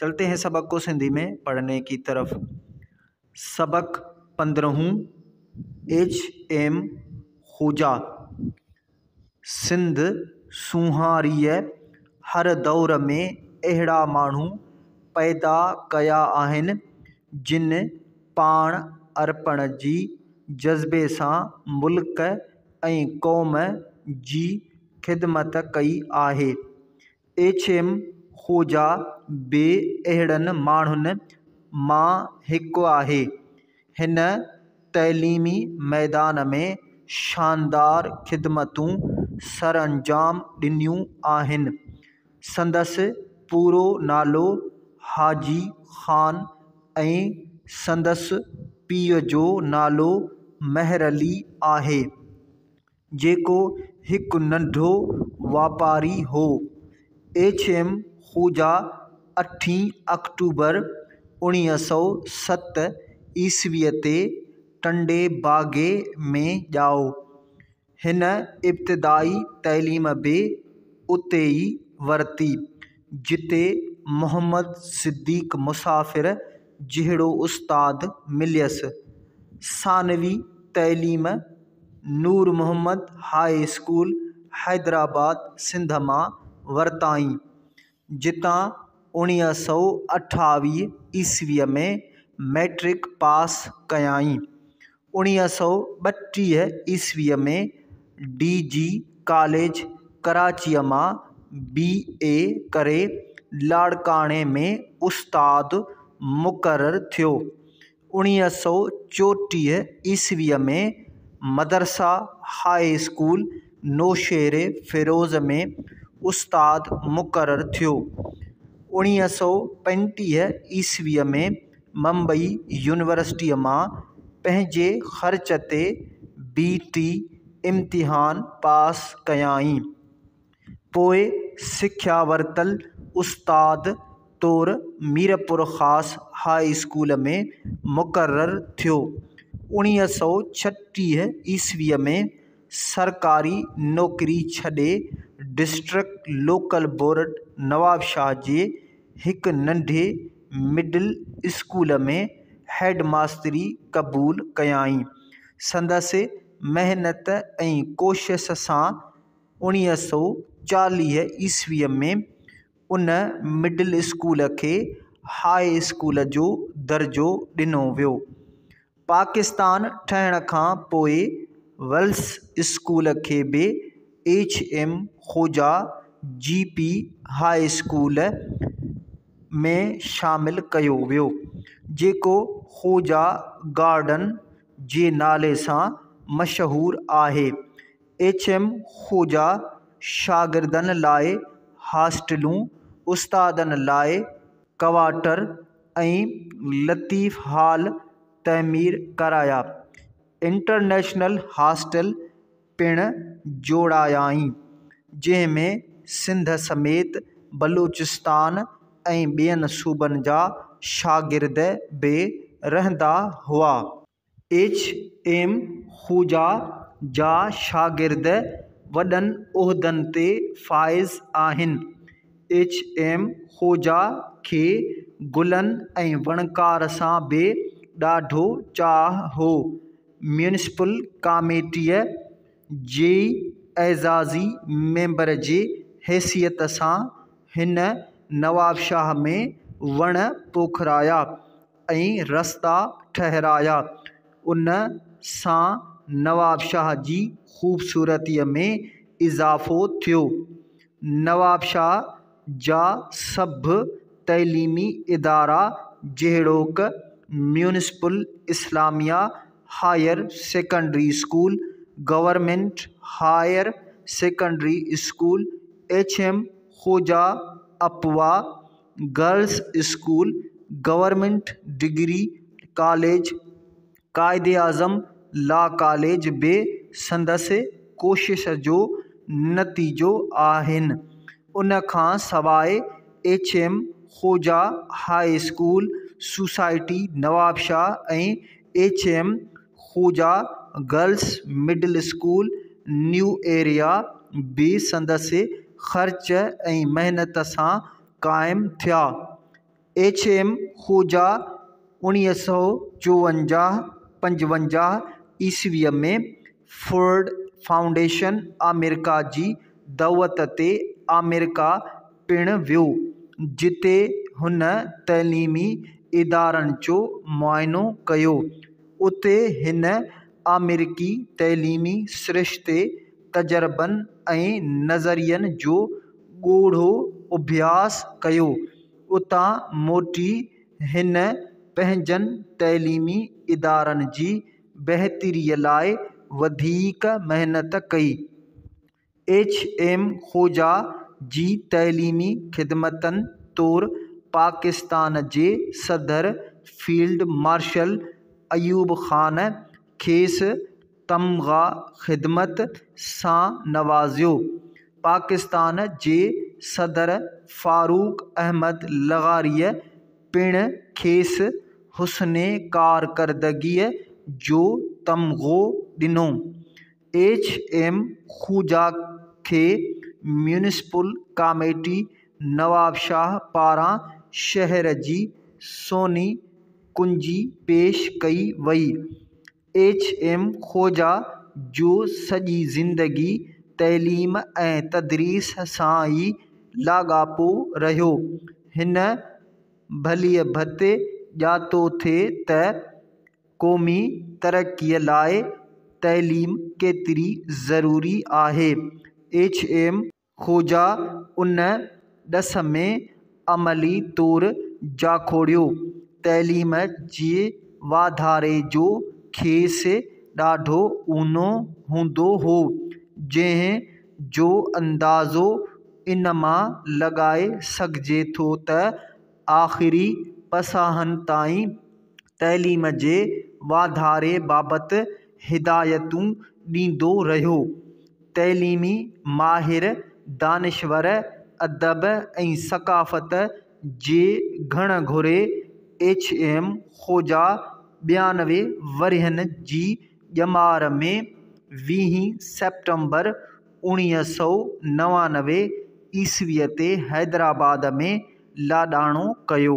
چلتي هين سبق ڪو سنڌي ۾ پڙهني ڪي طرف سبق پندرهون ايڇ ايم خوجا سنڌ سونهاريء هر دور ۾ اهڙا ماڻهو پيدا ڪيا آهن جن پاڻ ارپڻ جي جذبي سان ملڪ ۽ قوم جي خدمت ڪئي آهي ايڇم خوجا به اهڙن ماڻهن مان هڪ آهي. هن تعليمي ميدان ۾ شاندار خدمتون سرانجام ڏنيون آهن. سندس پورو نالو حاجي خان ۽ سندس پيء جو نالو مهرعلي آهي. جيڪو هڪ ننڍو واپاري هو. ايڇ. ايم. خوجا اٺين آڪٽوبر اوڻيهه سؤ ست عيسويء تي ٽنڊي باگي ۾ ڄائو. هن ابتدائي تعليم به اتي ئي ورتي. جتي محمد صديق مسافر جهڙو استاد مليس. ثانوي تعليم نور محمد هاء اسڪول حيدرآباد سنڌ مان ورتائين، جتان اوڻيهه سؤ اٺاويهه عيسويء ۾ مئٽرڪ پاس ڪيائين. اڻيهه سؤ ٻٽيهه عيسويء ۾ ڊي جي ڪاليج ڪراچيء مان بي اي ڪري لاڙڪاڻي ۾ استاد مقرر ٿيو اڻيهه سؤ چوٽيهه عيسويء ۾ مدرسه هاء اسڪول نوشهري فيروز ۾ استاد مقرر ٿيو اڻيهه سؤ پنجٽيهه عيسويء ۾ ممبئي يونيورسٽيء مان پنهنجي خرچ تي بي ٽي امتحان پاس ڪيائين. پوء سکيا ورتل استاد طور ميرپورخاص هاء اسڪول ۾ مقرر ٿيو. اوڻيهه سؤ ڇٽيهه عيسويء ۾ سرڪاري نوڪري ڇڏي ڊسٽرڪٽ لوڪل بورڊ نوابشاهه جي هڪ ننڍي مڊل اسڪول ۾ هيڊ ماستري قبول ڪيائين. سندس محنت ۽ ڪوشس سان اوڻيهه سؤ چاليهه عيسويء ۾ ان مڊل اسڪول کي هاء اسڪول جو درجو ڏنو ويو. پاڪستان ٺهڻ کان پوء ويلس اسڪول کي به ايڇ ايم خوجا جي پي هاء اسڪول ۾ شامل ڪيو ويو جيڪو خوجا گارڊن جي نالي سان مشهور آهي ايڇ ايم خوجا شاگردن لاء هاسٽلون استادن لاء ڪوارٽر ۽ لطيف هال تعمير ڪرايا. انٽرنيشنل هاسٽل پڻ جوڙايائين، جنهن ۾ سنڌ سميت بلوچستان ۽ ٻين صوبن جا شاگرد به رهندا هئا. ايڇ ايم خوجا جا شاگرد وڏن عهدن تي فائز آهن. ايڇ ايم خوجا کي گلن ۽ وڻڪار سان به ڏاڍو چاهه هو. ميونسپل ڪاميٽيء جي اعزازي ميمبر جي حيثيت سان هن نوابشاهه ۾ وڻ پوکرايا. ۽ رستا ٺهرايا. ان سان نوابشاهه جي خوبصورتيء ۾ اضافو ٿيو. نوابشاهه جا سڀ تعليمي ادارا جهڙوڪ، municipal Islamia higher secondary school, government higher secondary school, H M Khoja اپوا، girls school government degree college Quaid Azam law college به سندس ڪوشش جو نتيجو آهن ان کان سواء H M Khoja high school society Nawabshah ۽ H M Khoja girls middle school new area به سندس خرچ ۽ محنت سان قائم ٿيا. ايڇ ايم خوجا اوڻيهه سؤ چوونجاهه پنجونجاهه عيسوي ۾ فورڊ فائونڊيشن آمريڪا جي دعوت تي آمريڪا پڻ ويو جتي هن تعليمي ادارن جو معائنو ڪيو. اتي هن آمريڪي تعليمي سرشتي، تجربن ۽ نظرين جو ڳوڙهو اڀياس ڪيو. اتان موٽي هن پنهنجن تعليمي ادارن جي بهتري لاء وڌيڪ محنت ڪئي. ايڇ ايم خوجا جي تعليمي خدمتن طور پاڪستان جي صدر فيلڊ مارشل ايوب خان کيس تمغه خدمت سان نوازيو پاڪستان جي صدر فاروق احمد لغاريء پڻ کيس حسن ڪارڪردگيء جو تمغو ڏنو ايڇ ايم خوجا کي ميونسپل ڪاميٽي نوابشاهه پاران شهر جي سوني ڪنجي پيش ڪئي وئي. ايڇ ايم خوجا جو سڄي زندگي تعليم ۽ تدريس سان ئي لاڳاپو رهيو. هن ڀليء ڀت ڄاتو ٿي ته قومي ترقي لاء تعليم ڪيتري ضروري آهي، ايڇ ايم خوجا ان ڏس ۾ عملي طور جاکوڙيو، تعليم جي واڌاري جو کيس ڏاڍو اونو هوندو هو، جنهن جو اندازو ان مان لڳائي سگهجي ٿو ته آخري پساهن تائين تعليم جي واڌاري بابت هدايتون ڏيندو رهيو. تعليمي ماهر، دانشور، ادب ۽ ثقافت جي گهڻ گهري ايڇ. ايم. خوجا ٻيانوي ورهين جي ڄمار ۾ ويهين سيپٽمبر اوڻيهه سؤ نوانوي عيسويء تي حيدرآباد ۾ لاڏاڻو ڪيو.